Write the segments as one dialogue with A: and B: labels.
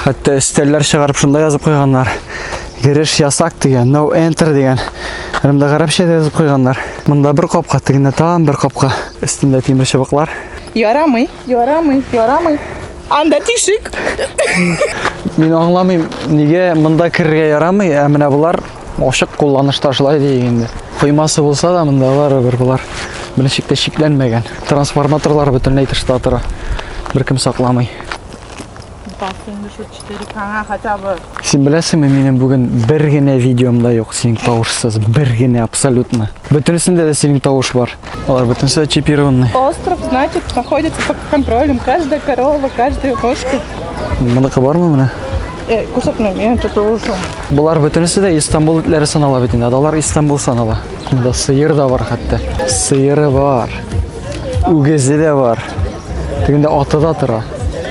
A: Хәтта өстәлләр чыгарып шунда язып куйганнар. Гереш ясак дигән, no enter дигән. Рымда гарәпчә дә язып куйганнар. Монда бер капка, тегендә тагын бер капка. Өстендә тимер чыбыклар. Ярамый,
B: ярамый, ярамый. Анда тишек.
A: Мин аңламыйм, нигә монда керергә ярамый, ә менә булар Ачык кулланышта шулай дияйек инде. Коймасы булса да, монда барыбер болар беренче чиктә чикләнмәгән. Трансформаторлар бөтенләй тышта тора. Беркем сакламый.
B: Син беләсеңме, минем
A: бүген бер генә видеомда юк синең тавышсыз, бер генә абсолютно. Бөтенесендә дә синең тавыш бар. Алар бөтенесе чипированный. Остров, значит,
B: находится под контролем. Каждая корова, каждая кошка. Моныкы бармы
A: менә? Э, кусатмыйм,
B: я тут улышым. Болар бөтенесе
A: дә Истанбул итләре санала бит инде. Адалар Истанбул санала. Монда сыер да бар хәтта. Сыеры бар. Үгезе дә бар. Тегендә аты да тора.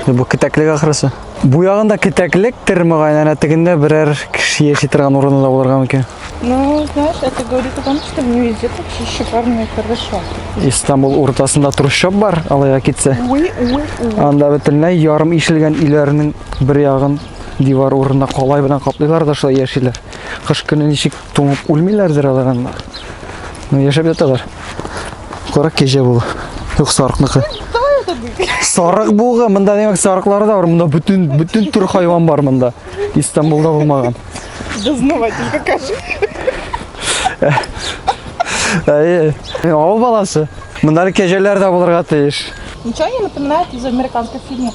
A: Бу кетәклек ахрысы. Бу ягында кетәклектер мөгаен, әнә тегендә берәр кеше яши торган урыны да булырга мөмкин. Ну, знаешь,
B: это говорит о том, что в Нью-Йорке вообще шикарно и хорошо. Истанбул
A: уртасында трущоб бар, алайга китсә. Уй, уй, уй. Анда бөтенләй ярым ишелгән өйләрнең бер ягын дивар урынына калай белән каплыйлар да шулай яшиләр. Кыш көне ничек туңып үлмиләрдер алар анда. Ну, яшәп яталар. Карак кәҗә бу. Юк, сарыкныкы. Сарык бугы, монда димәк сарыклар да бар. Монда бүтін бүтін түр хайван бар монда. Истанбулда булмаган. Дознаватель
B: покажи.
A: Әйе. Авыл баласы. Монда кәҗәләр дә булырга тиеш. Ничего не напоминает
B: из американских фильмов.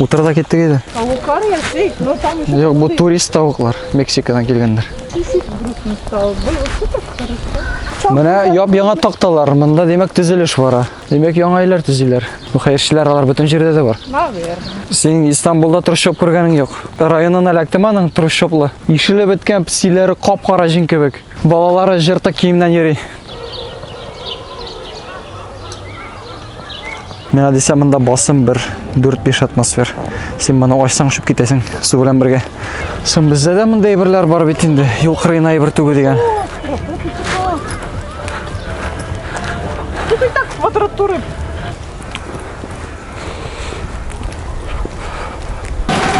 A: Утыр да киттек иде. Тавыклар яши,
B: но там еще... Юк, бу турист тавыклар,
A: Мексикадан килгәннәр. Кисик грустный
B: стал. Был супер хорошо. Менә яп-яңа
A: такталар, монда димәк төзелеш бара. Димәк яңа өйләр төзиләр. Бу хәерчеләр алар бөтен җирдә дә бар. Наверное. Син
B: Истанбулда
A: трущоб күргәнең юк. Районын эләктем аның трущоблы. Ишеле беткән псиләре кап-кара җин кебек. Балалары җыртык киемнән йөри. Мина дисә монда басым бер 4-5 атмосфер. Син моны ачсаң шып китәсең су белән бергә. Сон бездә дә монда әйберләр бар бит инде. Юл кырыена әйбер түгел дигән.
B: Тут так квадратуры.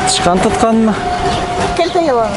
A: Тышкан тотканмы? Кәлтә
B: яланы.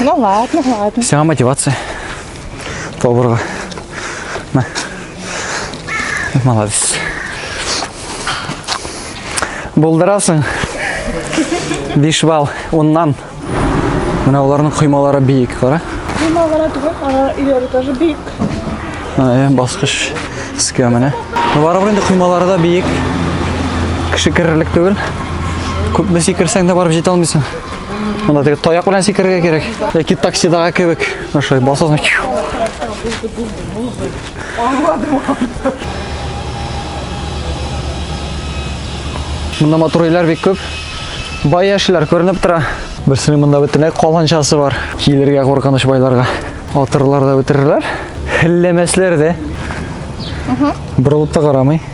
A: Ну
B: ладно, ладно. Вся мотивация.
A: Доброго. На. Молодец. Болдырасың. Бишбал, оннан. Менә оларның коймалары биек, кара. Коймалары түгел,
B: алар иләре тоже биек. Ә,
A: баскыш искә менә. Барыбер инде коймалары да биек. Кеше керерлек түгел. Күпме сикерсәң дә барып җитә алмыйсың. Монда теге таяк белән сикерергә кирәк. Яки таксидагы кебек. Ошай басасың. Аңладым. Монда матур өйләр бик күп. Бай яшьләр күренеп тора. Берсенең монда бөтенләй каланчасы бар. Килергә куркыныч байларга. Атырлар да бетерерләр. Хилләмәсләр дә. Борылып та карамый.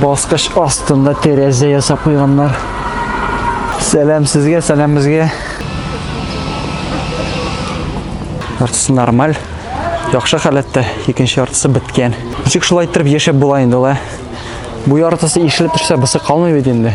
A: Баскыч астында тәрәзә ясап куйганнар. Сәлам сезгә, сәлам безгә. Яртысы нормаль. Яхшы халәттә, икенче яртысы беткән. Ничек шулай иттереп яшәп була инде ла? Бу яртысы ишелеп төшсә, бысы калмый бит инде.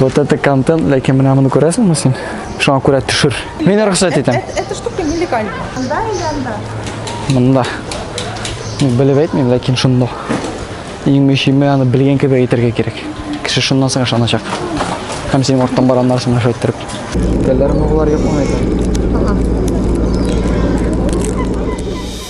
A: Вот это контент, ләкин менә моны күрәсеңме син? Шуңа күрә төшер. Мин рөхсәт итәм. Это штука нелегальная.
B: Анда или анда? Монда.
A: Ну, белеп әйтмим, ләкин шунда. Иң мөһиме аны белгән кебек әйтергә кирәк. Кеше шуннан соң ышаначак. Һәм синең арттан бараннар сиңа шулай иттереп. Телләрне булар юкмы икән?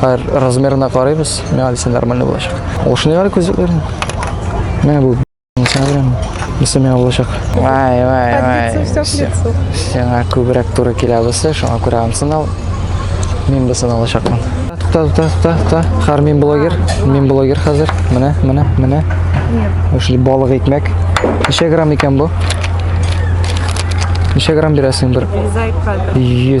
A: Хәер, размерына карыйбыз. Миңа дисә нормально булачак. Ул шундый гына күзлекләрне. Менә бу сәңә белән. Исә миңа булачак. Вай, вай, вай. лицо,
B: всё к лицу. Сиңа күбрәк
A: туры килә бусы, шуңа күрә ансын ал. Мин бусын алачакмын. Тукта, тукта, тукта, тукта. Хәер, мин блогер. Мин блогер хәзер. Менә, менә, менә. Эшли балык икмәк. Ничә грамм икән бу? Ничә грамм бирәсең бер? Зайка.
B: 100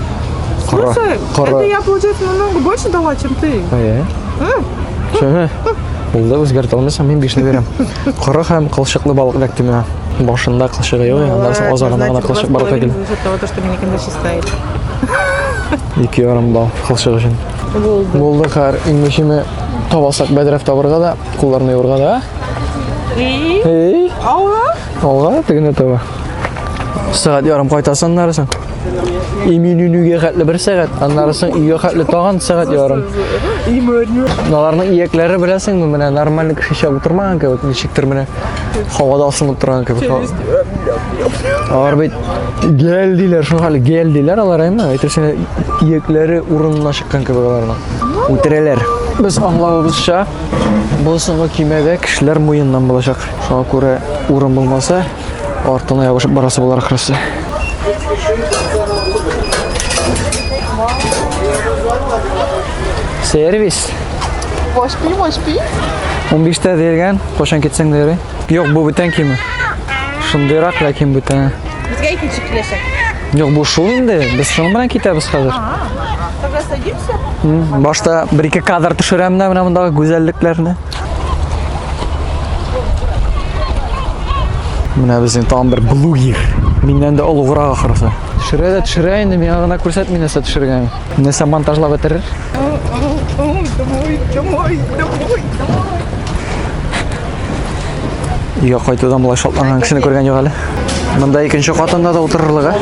A: Кара.
B: Слушай, Кара. это я, получается, намного больше дала, чем ты. Әйе.
A: Шөһе. Булды үзгәртә алмыйсың, мин бишне бирәм. Кара һәм кылчыклы балык эләк төмә. Башында кылчыгы юк, аннан соң азагына гына кылчык бар икән. За того, то, что меня никогда не
B: считает. Ике ярым
A: бал кылчык өчен. Булды. Булды хәр, иң мөһиме табасак бәдрәф табырга да, кулларны юрга да. И? Эй, Алла. алга тегене таба. сәгать ярым кайтасың аннары соң иминүнүгә хәтле бер сәгать аннары соң өйгә хәтле тагын сәгать ярым аларның иякләре беләсеңме менә нормальный кеше чыгып утырмаган кебек ничектер менә һавада асылынып торган кебек алар бит гел диләр шул хәле гел диләр алар әмма әйтерсең иякләре урынына чыккан кебек аларның үтерәләр без аңлавыбызча бу соңгы көймәдә кешеләр муеннан булачак шуңа күрә урын булмаса Артына ябышып барасы булар ахрысы. Сервис. Вошпи,
B: вошпи.
A: 15 тә дигән, кошан китсәң дә ярый. Юк, бу бүтән киме. Шундыйрак ләкин бүтән. Безгә икенче киләчәк. Юк, бу шул инде. Без шуның белән китәбез хәзер.
B: Башта
A: бер-ике кадр төшерәм дә менә мондагы гүзәллекләрне. Менә безнең тагын бер блугер. Миннән дә олуграк ахрысы. Төшерә дә төшерә инде, миңа гына күрсәтми нәрсә төшергән. Нәрсә монтажлап бетерер? Домой, домой,
B: домой, домой.
A: Өйгә кайтудан болай шатланган кешене күргән юк әле. Монда икенче катында да утырырлык, ә?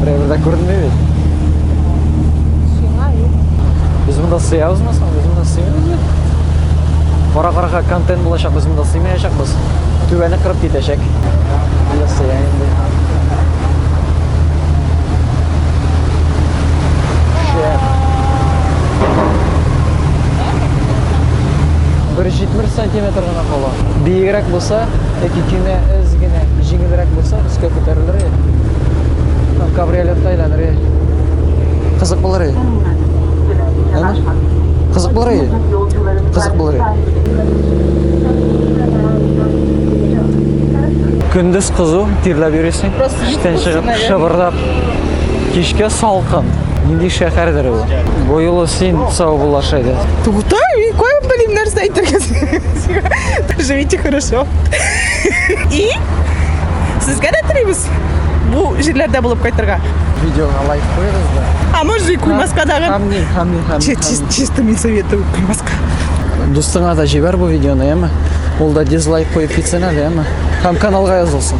A: Драйверда күренмей бит. Сиңа юк. Без монда сыябызмы соң? Без монда сыймыйбыз. Кара карага контент булачак, без монда сыймаячакбыз. Түбәне кырып китәчәк. Монда сыя инде. Шәп. Бер 70 сантиметр Кала. Биегрәк булса, яки көймә эз генә җиңелрәк булса, өскә күтәрелер. Там кабриолетта әйләнер. Кызык булыр. Әнә? Кызык булыр. Кызык булыр. Көндез кызу, тирләп йөрисең. Просто чыгып, шыбырдап. Кичкә салкын. Нинди шәһәрдер ул? Бу юлы син сау бул, Ашайда. Тугта, мин кая
B: белим нәрсә әйтергә. Живите хорошо. И сезгә дә телибез. Бу җирләрдә булып кайтырга. Видеога лайк
A: куегыз да. А может и куймаска
B: дагы. Хамни, хамни, хамни.
A: Чисто мин
B: советую куймаска. Дустыңа
A: да җибәр бу видеоны, яме. Ул да дизлайк куеп китсен әле, яме. Һәм каналга язылсын.